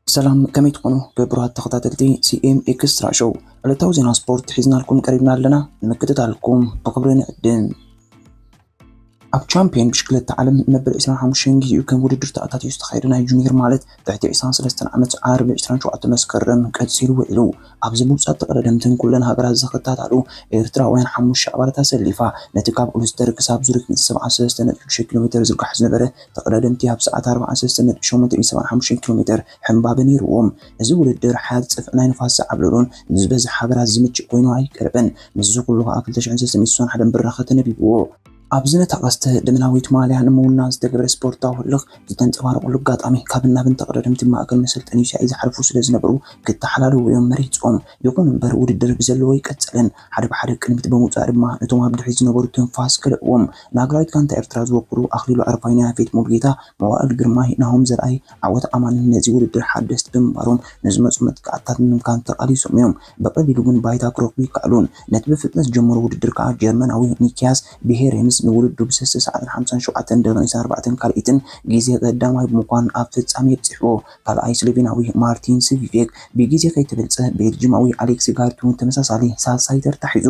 ሰላም ከመይ ትኾኑ ክቡራት ተኸታተልቲ ሲኤም ኤክስትራ ሾው ዕለታዊ ዜና ስፖርት ሒዝናልኩም ቀሪብና ኣለና ንምክትታልኩም ብክብሪ ንዕድም ኣብ ቻምፕዮን ብሽክለታ ዓለም መበል 25 ጊዜኡ ከም ውድድር ተኣታትዩ ዝተኻየደ ናይ ጁኒየር ማለት ትሕቲ 23 ዓመት ዓርቢ 27 መስከረም ቀጺሉ ውዒሉ። ኣብዚ ብሉጻት ተቐዳደምትን ኩለን ሃገራት ዝኽታታሉ ኤርትራውያን ሓሙሽተ ኣባላት ኣሰሊፋ ነቲ ካብ ኡልስተር ክሳብ ዙሪክ 173.6 ኪሎሜተር ዝርጋሕ ዝነበረ ተቐዳደምቲ ኣብ ሰዓት 43.875 ኪሎሜተር ሕምባበ ነይሩዎም። እዚ ውድድር ሓርጽፍ ናይ ንፋስ ዝዓብለሎን ንዝበዝሕ ሃገራት ዝምችእ ኮይኑ ኣይቀርብን። ምስዚ ኩሉ ከኣ ክልተ ሽሕን ሰለስተን ሚእቲ ስሳን ሓደን ብራኸ ተነቢብዎ። ኣብዚ ነታ ቀስተ ደመናዊት ማልያ ንምውናን ዝተገብረ ስፖርታዊ ህልኽ ዝተንጸባረቐሉ ኣጋጣሚ፣ ካብን ናብን ተቐዳደምቲ ማእከል መሰልጠኒ ሻሂ ዝሓልፉ ስለ ዝነበሩ ክተሓላለዉ እዮም መሪጾም። ይኹን እምበር ውድድር ብዘለዎ ኣይቀጸለን። ሓደ ብሓደ ቅድሚት ብምውጻእ ድማ ነቶም ኣብ ድሕሪት ዝነበሩ ትንፋስ ከልእዎም። ንሃገራዊት ጋንታ ኤርትራ ዝወክሉ ኣኽሊሉ ኣረፋይነ፣ ያፌት ሙሉጌታ፣ መዋእል ግርማይ፣ ናሆም ዘርኣይ፣ ዓወት ኣማንን ነዚ ውድድር ሓደስቲ ብምንባሮም ንዝመጹ መጥቃዕትታት ንምምካን ተቓሊሶም እዮም፣ ብቐሊሉ ግን ባይታ ክረኽቡ ኣይከኣሉን። ነቲ ብፍጥነት ዝጀመሮ ውድድር ከኣ ጀርመናዊ ኒኪያስ ቢሄሬንስ ንውድድሩ ብሰስተ ሰዓትን ሓምሳን ሸውዓተን ደቒቕን ዒስራን ኣርባዕተን ካልኢትን ግዜ ቀዳማይ ብምኳን ኣብ ፍጻሜ ኣብጺሕዎ። ካልኣይ ስሎቬናዊ ማርቲን ስቪቬክ ብግዜ ከይተበልጸ፣ ቤልጂማዊ ኣሌክሲ ጋርቲ'ውን ተመሳሳሊ ሳልሳይ ተርታ ሒዙ።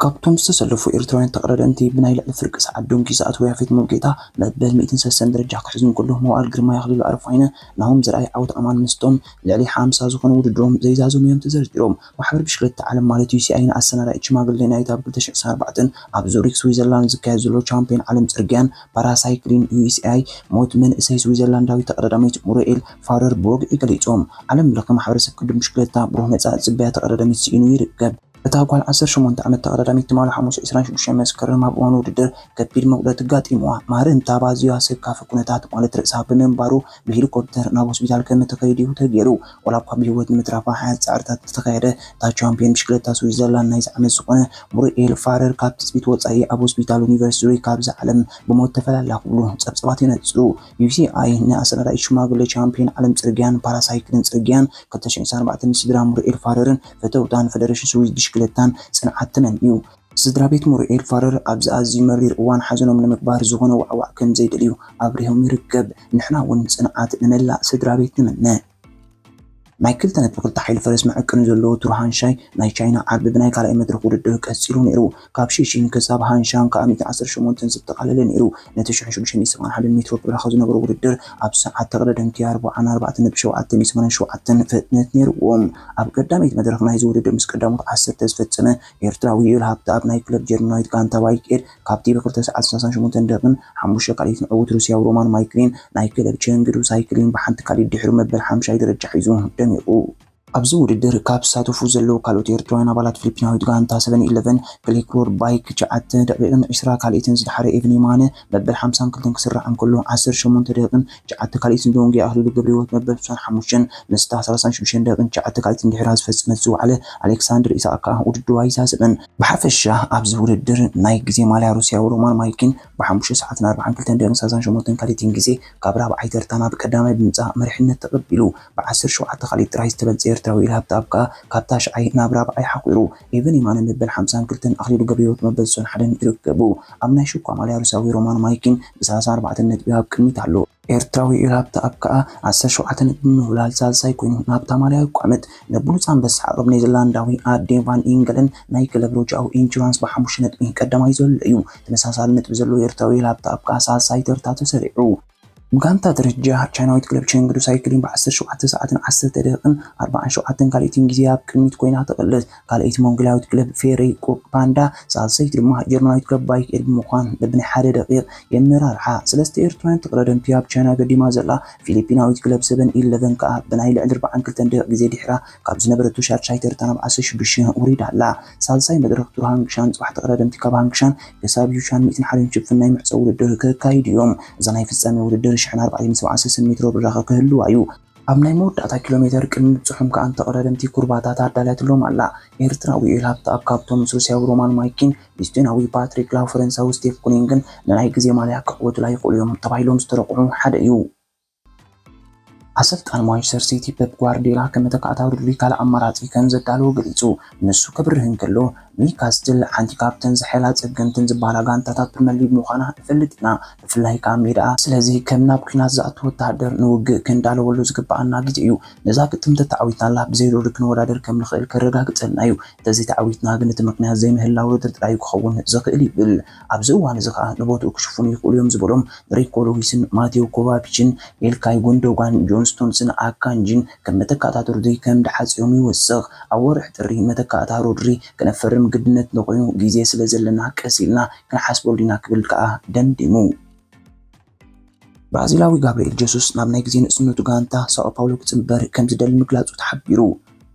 ካብቶም ዝተሰለፉ ኤርትራውያን ተቐዳደምቲ ብናይ ልዕሊ ፍርቂ ሰዓት ዶንኪ ዝኣተወ ያፌት ሙሉጌታ መበል ሚእትን ሰሰን ደረጃ ክሕዝ እንከሎ መዋእል ግርማይ ኣኽሊሉ ኣረፋይነ ናሆም ዘርኣይ ዓወት ኣማን ምስቶም ልዕሊ ሓምሳ ዝኾኑ ውድድሮም ዘይዛዘሙዮም ተዘርዚሮም ማሕበር ብሽክለታ ዓለም ማለት ዩሲኣይ ንኣሰናዳኢት ሽማግሌ ናይቲ ኣብ ክልተ ሽሕን ኣርባዕተን ኣብ ዙሪክ ስዊዘርላንድ ዝካየድ ዘሎ ቻምፕዮን ዓለም ጽርግያን ፓራሳይክሊን ዩሲኣይ ሞት መንእሰይ ስዊዘርላንዳዊት ተቐዳዳሚት ሙሪኤል ፋውረር ብወግዒ ገሊጾም ዓለም ለኸ ማሕበረሰብ ቅድም ብሽክለታ ብሩህ መጻኢ ዝጽበያ ተቐዳዳሚት ስኢኑ ይርከብ። እታ ጓል ዓሰርተ ሸሞንተ ዓመት ተቐዳዳሚት ትማሊ ሓሙስ ዕስራን ሽዱሽተን መስከረም ኣብ እዋን ውድድር ከቢድ መጉደእቲ ኣጋጢምዋ ማርንታብ ኣዝዩ ኣሰካፊ ኩነታት ማለት ርእሳ ብምንባሩ ብሄሊኮፕተር ናብ ሆስፒታል ከምእተኸይድ'ዩ ተገይሩ። ዋላ'ኳ ብህይወት ንምትራፋ ሓያት ጻዕርታት እንተተኻየደ እታ ቻምፕዮን ብሽክለታ ስዊዘርላንድ ናይዚ ዓመት ዝኾነ ሙሪኤል ፋረር ካብ ትጽቢት ወጻኢ ኣብ ሆስፒታል ዩኒቨርሲቲ ዙሪክ ካብዛ ዓለም ብሞት ተፈላላ ክብሉ ጸብጻባት የነጽሩ። ቢቢሲኣይ ንኣሰናዳኢት ሽማግለ ቻምፕዮን ዓለም ጽርግያን ፓራሳይክልን ጽርግያን ክልተ ሽሕን ዒስራን ኣርባዕተን ስድራ ሙርኤል ፋረርን ፈተውታን ፈደረሽን ስዊዝ ብሽክለታን ጽንዓት ተመንዩ። ስድራቤት ሙርኤል ፋረር ኣብዚ ኣዝዩ መሪር እዋን ሓዘኖም ንምግባር ዝኾነ ዋዕዋዕ ከምዘይደልዩ ኣብሪሆም ይርከብ። ንሕና'ውን ጽንዓት ንመላእ ስድራቤት ንምነ። ናይ ክልተ ነጥቢ ክልተ ሓይሊ ፈረስ መዐቀኒ ዘለዎ ቱር ሃንሻይ ናይ ቻይና ዓርቢ ብናይ ካልኣይ መድረኽ ውድድር ቀጺሉ ነይሩ። ካብ ሺሺን ክሳብ ሃንሻን ከኣ ሚእቲ ዓሰርተ ሸሞንተ ዘጠቓለለ ነይሩ። ነቲ ሽሕ ሽዱሽተ ሚእቲ ሰብዓን ሓደን ሜትሮ ብራኸ ዝነበሮ ውድድር ኣብ ሰዓት ተቕደደምቲ ኣርብዓን ኣርባዕተ ነጥቢ ሸውዓተ ሚእቲ ሰማንያን ሸውዓተን ፍጥነት ነይሩዎ። ኣብ ቀዳመይቲ መድረኽ ናይዚ ውድድር ምስ ቀዳሞት ዓሰርተ ዝፈጸመ ኤርትራዊ ዩኤል ሃብተኣብ ናይ ክለብ ጀርመናዊት ጋንታ ባይኬድ ካብቲ ብ ክልተ ሰዓት ሰላሳን ሸሞንተን ደቂቕን ሓሙሽተ ካልኢትን ዕዉት ሩስያዊ ሮማን ማይክሊን ናይ ክለብ ቸንግዱ ሳይክሊን ብሓንቲ ካልኢት ድሕሩ መበል ሓምሻይ ደረጃ ሒዙ ደሚቑ። ኣብዚ ውድድር ካብ ዝሳተፉ ዘለዉ ካልኦት ኤርትራውያን ኣባላት ፊሊፒናዊት ጋንታ ሰቨን ኢለቨን ክሊክሮድ ባይክ ትሽዓተ ደቂቕን ዕስራ ካልኢትን ዝደሓረ ኤቨን የማነ መበል ሓምሳን ክልተን ክስራዕ እንከሎ ዓሰርተ ሸሞንተ ደቂቕን ትሽዓተ ካልኢትን ዶንጌ ኣኽሊሉ ገብረሂወት መበል ስሳን ሓሙሽተን ምስታ ሰላሳን ሽዱሽተን ደቂቕን ትሽዓተ ካልኢትን ድሒራ ዝፈጸመት ዝወዓለ ኣሌክሳንደር ኢሳቕ ከኣ ውድድሩ ኣይሳሰበን። ብሓፈሻ ኣብዚ ውድድር ናይ ግዜ ማልያ ሩስያዊ ሮማን ማልኪን ብሓሙሽተ ሰዓትን ኣርብዓን ክልተን ደቂቕን ሳልሳን ሸሞንተን ካልኢትን ግዜ ካብ ራብዓይ ተርታ ናብ ቀዳማይ ብምምጻእ መሪሕነት ተቐቢሉ። ብዓሰርተ ሸውዓተ ካልኢት ጥራይ ዝተበልጸ ኤርትራዊ ኢልሃብ ተኣብ ከኣ ካብ ታሽዓይ ናብ ራብዓይ ሓቝሩ። ኤቨን የማነ መበል ሓምሳን ክልተን ኣኽሊሉ ገብረሂወት መበል ስሳን ሓደን ይርከቡ። ኣብ ናይ ሽኳ ማልያ ሩስያዊ ሮማን ማልኪን ብሰላሳን ኣርባዕተን ነጥቢ ኣብ ቅድሚት ኣሎ። ኤርትራዊ ኢራብቲ ኣብ ከኣ ዓሰርተ ሸውዓተ ነጥቢ ብምብላል ሳልሳይ ኮይኑ፣ ናብታ ማልያ ቋመት ንብሉጽ ኣንበሳ ዓቕብ ኔዘርላንዳዊ ኣርዴ ቫን ኢንገለን ናይ ክለብ ሮጃኦ ኢንሹራንስ ብሓሙሽተ ነጥቢ ቀዳማይ ዘሎ እዩ። ተመሳሳሊ ነጥቢ ዘለዎ ኤርትራዊ ኢራብቲ ኣብ ከኣ ሳልሳይ ተርታ ተሰሪዑ። ብጋንታ ደረጃ፣ ቻይናዊት ክለብ ቸንግዱ ሳይክሊን ብዓሰርተ ሸውዓተ ሰዓትን ዓሰርተ ደቂቕን ኣርባዓን ሸውዓተን ካልኢትን ግዜ ኣብ ቅድሚት ኮይና ትቕልስ። ካልኣይቲ ሞንጎላዊት ክለብ ፌሪ ቁቅ ፓንዳ፣ ሳልሰይቲ ድማ ጀርመናዊት ክለብ ባይክ ኤር ብምዃን በብናይ ሓደ ደቂቅ የመራርሓ። ሰለስተ ኤርትራውያን ተቀዳደምቲ ኣብ ቻይና ገዲማ ዘላ ፊሊፒናዊት ክለብ ሰቨን ኢለቨን ከኣ ብናይ ልዕሊ ኣርብዓን ክልተን ደቂቅ ግዜ ድሒራ ካብ ዝነበረቶ ሻድሻይ ተርታ ናብ ዓሰርተ ሽዱሽተ ወሪዳ ኣላ። ሳልሳይ መድረኽ ቱር ሃንግሻን ጽባሕ ተቀዳደምቲ ካብ ሃንግሻን ክሳብ ዩሻን ሚእትን ሓደን ሽፍን ናይ መዕጸዊ ውድድር ከካይዱ'ዮም። እዛ ናይ ፍጻሜ ውድድር ሽሕን ኣርባዕተይን ሰብዓን ሰሰን ሜትሮ ብራኸ ክህልዋ'ዩ። ኣብ ናይ መወዳእታ ኪሎሜተር ቅድሚ ምብጽሖም ከኣ ንተቐዳደምቲ ኩርባታት ኣዳልያትሎም ኣላ። ኤርትራዊ ዩኤል ሃብተኣብ ካብቶም ምስ ሩስያዊ ሮማን ማይኪን ኢስቶንያዊ ፓትሪክ ላው ፈረንሳዊ ስቴፍ ኩኒንግን ንናይ ግዜ ማልያ ክዕወቱላ ይኽእሉ እዮም ተባሂሎም ዝተረቑሑ ሓደ እዩ። ኣሰልጣኒ ማንቸስተር ሲቲ ፔፕ ጓርድዮላ ከመተካእታ ድሉይ ካልእ ኣማራጺ ከምዘዳለወ ገሊጹ ንሱ ከብርህ እንከሎ ኒውካስትል ሓንቲ ካብተን ዝሐይላ ጸገምትን ዝበሃላ ጋንታታት ፕሪመር ሊግ ምዃና ንፈልጥ ኢና፣ ብፍላይ ከኣ ሜዳኣ። ስለዚ ከም ናብ ኲናት ዝኣቱ ወተሃደር ንውግእ ክንዳለወሉ ዝግበኣና ግዜ እዩ። ነዛ ግጥም ተተዓዊትናላ ብዘይ ዶሪ ክንወዳደር ከም ንኽእል ከረጋግጸልና እዩ። እንተዘይተዓዊትና ግን እቲ ምኽንያት ዘይምህላው ዶሪ ጥራይ ክኸውን ዝኽእል ይብል። ኣብዚ እዋን'ዚ ከኣ ንቦትኡ ክሽፍኑ ይኽእሉ እዮም ዝበሎም ሪኮ ሉዊስን ማቴው ኮቫቺችን፣ ኢልካይ ጉንዶጋን፣ ጆን ስቶንስን ኣካንጂን ከም መተካእታ ዶሪ ከም ድሓጽዮም ይውስኽ። ኣብ ወርሒ ጥሪ መተካእታ ሮድሪ ክነፈርም ግድነትና ኮይኑ ግዜ ስለ ዘለና ቀስ ኢልና ክንሓስበሉ ኢና ክብል ከኣ ደምዲሙ። ብራዚላዊ ጋብርኤል ጀሱስ ናብ ናይ ግዜ ንእስነቱ ጋንታ ሳኦ ፓውሎ ክጽንበር ከም ዝደሊ ምግላጹ ተሓቢሩ።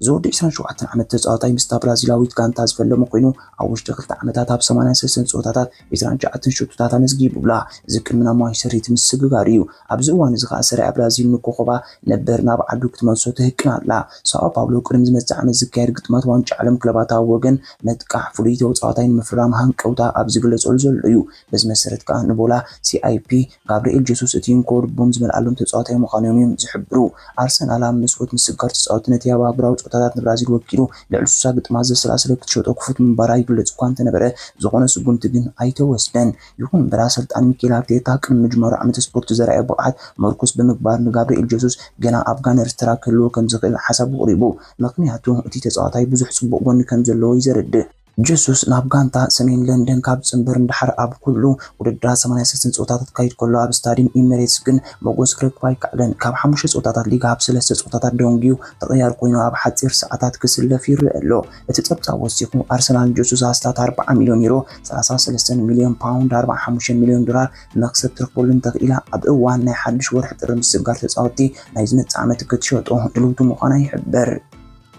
እዚ ወዲ ዕስራን ሸውዓተን ዓመት ተጻዋታይ ምስታ ብራዚላዊት ጋንታ ዝፈለመ ኮይኑ ኣብ ውሽጢ ክልተ ዓመታት ኣብ ሰማንያን ሰለስተን ጸወታታት ዕስራን ትሽዓተን ሸቶታት ኣመዝጊቡላ። እዚ ቅድሚ ናብ ማንቸስተር ሲቲ ምስግጋሩ እዩ። ኣብዚ እዋን እዚ ከኣ ሰሪኣ ብራዚል ንኮኾባ ነበር ናብ ዓዱ ክትመልሶ ትህቅን ኣላ። ሳኦ ፓውሎ ቅድሚ ዝመጽእ ዓመት ዝካየድ ግጥማት ዋንጫ ዓለም ክለባት ኣብ ወገን መጥቃዕ ፍሉይ ተጻዋታይ ንምፍራም ሃንቀውታ ኣብ ዝግለጸሉ ዘሎ'ዩ። በዚ መሰረት ከኣ ንቦላ ሲኣይፒ ጋብርኤል ጀሱስ እቲ እንኮ ልቦም ዝመልኣሎም ተጻዋታይ ምዃኖም እዮም ዝሕብሩ። ኣርሰናል ኣብ መስኮት ምስጋር ተጻወቲ ነቲ ኣብ ኣህጉራዊ ጸወታታት ንብራዚል ወኪሉ ልዕሊ ስሳ ግጥማት ዘሰላሰለ ክትሸጦ ክፉት ምንባራ ይግለጽ እኳ እንተነበረ ዝኾነ ስጉምቲ ግን ኣይተወስደን። ይኹን እምበር ኣሰልጣኒ ሚኬል ኣርቴታ ቅድሚ ምጅማሩ ዓመተ ስፖርት ዘርኣዮ ብቕዓት መርኮስ ብምግባር ንጋብርኤል ጀሱስ ገና ኣብ ጋነርስ ተራ ክህልዎ ከምዝኽእል ሓሳቡ ኣቕሪቡ ምኽንያቱ እቲ ተጻዋታይ ብዙሕ ጽቡቕ ጎኒ ከምዘለዎ እዩ ዘረድእ። ጀሱስ ናብ ጋንታ ሰሜን ለንደን ካብ ዝጽንበር ንደሓር ኣብ ኩሉ ውድድራት ሰማንያ ሰለስተ ጸወታታት ክካይድ ከሎ ኣብ ስታድዩም ኢሚሬትስ ግን መጎስ ክረክብ ኣይከኣለን። ካብ ሓሙሽተ ጸወታታት ሊግ ሃብ ሰለስተ ጸወታታት ደንጉዩ ተቐያሪ ኮይኑ ኣብ ሓጺር ሰዓታት ክስለፍ ይረኣ ኣሎ። እቲ ጸብጻብ ወሲኹ ኣርሰናል ንጀሱስ ኣስታት ኣርብዓ ሚልዮን ዩሮ፣ ሰላሳ ሰለስተ ሚልዮን ፓውንድ፣ ኣርብዓን ሓሙሽተን ሚልዮን ዶላር፣ መኽሰብ ትረኽበሉ እንተኽኢላ ኣብ እዋን ናይ ሓድሽ ወርሒ ጥሪ ምስግጋር ተጻወትቲ ናይ ዝመጽእ ዓመት ክትሸጦ ድልውቲ ምዃና ይሕበር።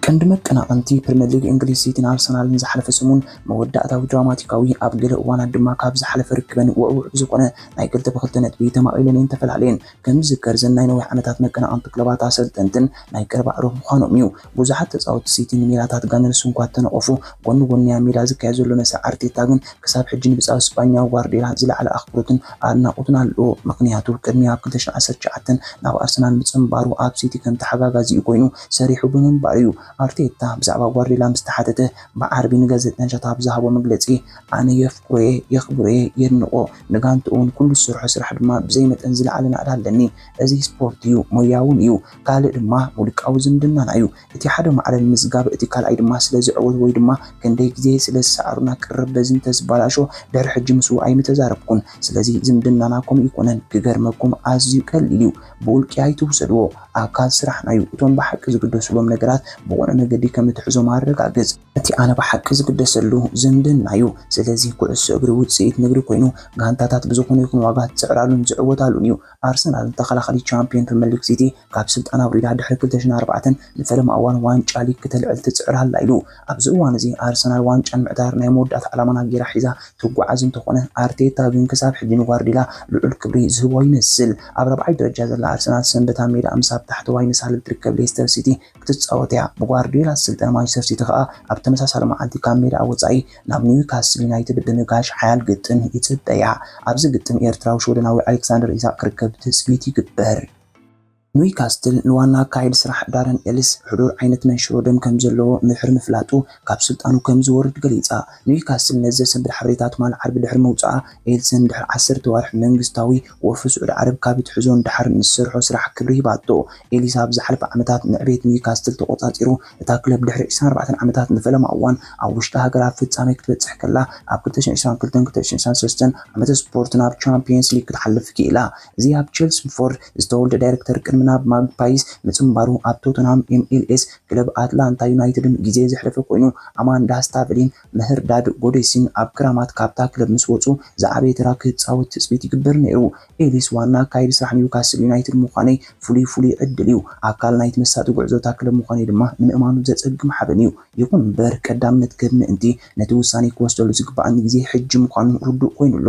ቀንዲ መቀናቕንቲ ፕሪመር ሊግ እንግሊዝ ሲቲን ኣርሰናልን ዝሓለፈ ሰሙን መወዳእታዊ ድራማቲካዊ፣ ኣብ ገለ እዋናት ድማ ካብ ዝሓለፈ ርክበን ውዕዉዕ ብዝኾነ ናይ ክልተ ብክልተ ነጥቢ ተማቒለን እየን ተፈላልየን። ከም ዝዝከር እዘን ናይ ነዊሕ ዓመታት መቀናቕንቲ ክለባት ኣሰልጠንትን ናይ ቀረባ ኣዕሩኽ ምዃኖም እዩ። ብዙሓት ተጻወትቲ ሲቲ ንሜላታት ጋነርስ እኳ እንተነቐፉ፣ ጎኒ ጎኒ ኣብ ሜዳ ዝካየድ ዘሎ መስርሕ ኣርቴታ ግን ክሳብ ሕጂ ንብጻዩ ስጳኛ ጓርድዮላ ዝለዓለ ኣኽብሮትን ኣድናቖትን ኣለዎ። ምኽንያቱ ቅድሚ ኣብ ክልተ ሽሕን ዓሰርተ ትሽዓተን ናብ ኣርሰናል ምጽንባሩ ኣብ ሲቲ ከም ተሓጋጋዚኡ ኮይኑ ሰሪሑ ብምንባሩ'ዩ። ኣርቴታ ብዛዕባ ጓርድዮላ ምስ ተሓተተ ብዓርቢ ንጋዜጠኛታት ኣብ ዝሃቦ መግለጺ፣ ኣነ የፍቅሮ'የ፣ የኽብሮ'የ፣ የድንቖ፣ ንጋንትኡ'ውን ኩሉ ዝሰርሖ ስራሕ ድማ ብዘይ መጠን ዝለዓለ ናእዳ ኣለኒ። እዚ ስፖርት'ዩ፣ ሞያ'ውን እዩ። ካልእ ድማ ውልቃዊ ዝምድናና'ዩ። እቲ ሓደ ማዕረ ንምዝጋብ፣ እቲ ካልኣይ ድማ ስለዚ ዕወት ወይ ድማ ክንደይ ግዜ ስለ ዝሰዓሩና ቅርብ በዚ እንተዝበላሾ ድሕሪ ሕጂ ምስኡ ኣይምተዛረብኩን። ስለዚ ዝምድናና ከምኡ ኣይኮነን። ክገርመኩም ኣዝዩ ቀሊል'ዩ። ብውልቂ ኣይትውሰድዎ፣ ኣካል ስራሕና እዩ። እቶም ብሓቂ ዝግደሱሎም ነገራት ብቑኑዕ መገዲ ከም እትሕዞም ኣረጋግጽ። እቲ ኣነ ብሓቂ ዝግደሰሉ ዝምድና እዩ። ስለዚ ኩዕሶ እግሪ ውጽኢት ንግዲ ኮይኑ፣ ጋንታታት ብዝኾነ ይኹን ዋጋ ዝጽዕራሉን ዝዕወታሉን እዩ። ኣርሰናል ንተኸላኻሊ ቻምፕዮን ፕሪመርሊግ ሲቲ ካብ ስልጣን ኣውሪዳ ድሕሪ ክልተ ሽሕን ኣርባዕተን ንፈለማ እዋን ዋንጫ ሊግ ክተልዕል ትጽዕር ኣላ ኢሉ ኣብዚ እዋን'ዚ ኣርሰናል ዋንጫ ንምዕታር ናይ መወዳእታ ዕላማና ጌራ ሒዛ ትጓዓዝ እንተኾነ፣ ኣርቴታ ግን ክሳብ ሕጂ ንጓርድዮላ ልዑል ክብሪ ዝህቦ ይመስል። ኣብ ራብዓይ ደረጃ ዘላ ኣርሰናል ሰንበት ኣብ ሜዳኣ ምስ ኣብ ታሕተዋይ ንሳልል ትርከብ ሌስተር ሲቲ ክትጻወት'ያ። ብጓርድዮላ ዝስልጠን ማንቸስተር ሲቲ ከኣ ኣብ ተመሳሳሊ መዓልቲ ካብ ሜዳኣ ወጻኢ ናብ ኒውካስል ዩናይትድ ብምጋሽ ሓያል ግጥም ይጽበያ። ኣብዚ ግጥም ኤርትራዊ ሽወደናዊ ኣሌክሳንደር ኢሳቕ ክርከብ ትጽቢት ይግበር። ኑይካስትል ንዋና ኣካያዲ ስራሕ ዳረን ኤልስ ሕዱር ዓይነት መንሽሮ ደም ከም ዘለዎ ምድሕሪ ምፍላጡ ካብ ስልጣኑ ከም ዝወርድ ገሊጻ። ኑይካስትል ነዚ ዘሰንብድ ሓበሬታ ትማል ዓርቢ ድሕሪ ምውጽኣ፣ ኤልስን ድሕሪ ዓሰርተ ኣዋርሕ መንግስታዊ ወፍሪ ስዑዲ ዓረብ ካብ እትሕዞ ንደሓር ንዝሰርሖ ስራሕ ክብሪ ሂባቶ። ኤሊስ ኣብ ዝሓለፈ ዓመታት ንዕቤት ኑይካስትል ተቖጻጺሩ። እታ ክለብ ድሕሪ ዕስራን ኣርባዕተን ዓመታት ንፈለማ እዋን ኣብ ውሽጢ ሃገር ኣብ ፍጻሜ ክትበጽሕ ከላ፣ ኣብ ክልተ ሽሕን ዕስራን ክልተን ክልተ ሽሕን ዕስራን ሰለስተን ዓመተ ስፖርት ናብ ቻምፕዮንስ ሊግ ክትሓልፍ ክኢላ። እዚ ኣብ ቼልስምፎርድ ዝተወልደ ዳይረክተር ቅድሚ ናብ ማግፓይስ ምጽንባሩ ኣብ ቶተንሃም፣ ኤምኤልኤስ፣ ክለብ ኣትላንታ ዩናይትድን ግዜ ዘሕለፈ ኮይኑ፣ ኣማንዳ ስታቨሊን ምህርዳድ ጎዴሲን ኣብ ክራማት ካብታ ክለብ ምስ ወጹ ዝዓበየ ተራ ክጻወት ትጽቢት ይግበር ነይሩ። ኤሊስ ዋና ኣካያዲ ስራሕ ኒውካስል ዩናይትድ ምዃነይ ፍሉይ ፍሉይ ዕድል'ዩ። ኣካል ናይቲ መሳጢ ጉዕዞ እታ ክለብ ምዃነይ ድማ ንምእማኑ ዘጸግም ሓበን'ዩ። ይኹን'ምበር ቀዳምነት ክህብ ምእንቲ፣ ነቲ ውሳነይ ክወስደሉ ዝግባኣኒ ግዜ ሕጂ ምዃኑ ርዱእ ኮይኑ ኣሎ።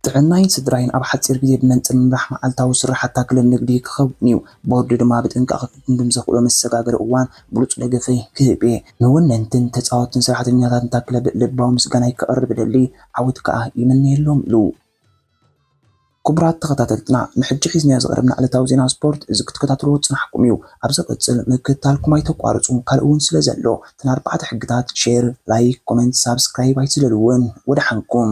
ጥዕናይን ስድራይን ኣብ ሓጺር ግዜ ብመንጽር ምምራሕ መዓልታዊ ስርሓታ ክለብ ንግዲ ክኸውን'ዩ። ቦርድ ድማ ብጥንቃቐ ክግምግም ዘኽእሎ መሰጋገሪ እዋን ብሉጽ ደገፈይ ክህብ'የ። ንወነንትን ተጻወትትን ስራሕተኛታትን እታ ክለብ ልባዊ ምስጋናይ ከቕርብ እደሊ፣ ዓወት ከኣ ይምነየሎም ኢሉ። ኩቡራት ተኸታተልትና ንሕጂ ሒዝናዮ ዝቐረብና ዕለታዊ ዜና ስፖርት እዚ ክትከታተልዎ ዝጸናሕኩም እዩ። ኣብ ዘቐጽል ምክትታልኩም ኣይተቋርጹ ካልእ ውን ስለ ዘሎ እተን ኣርባዕተ ሕግታት፣ ሼር፣ ላይክ፣ ኮመንት፣ ሳብስክራይብ ኣይትዝለልወን። ወደሓንኩም።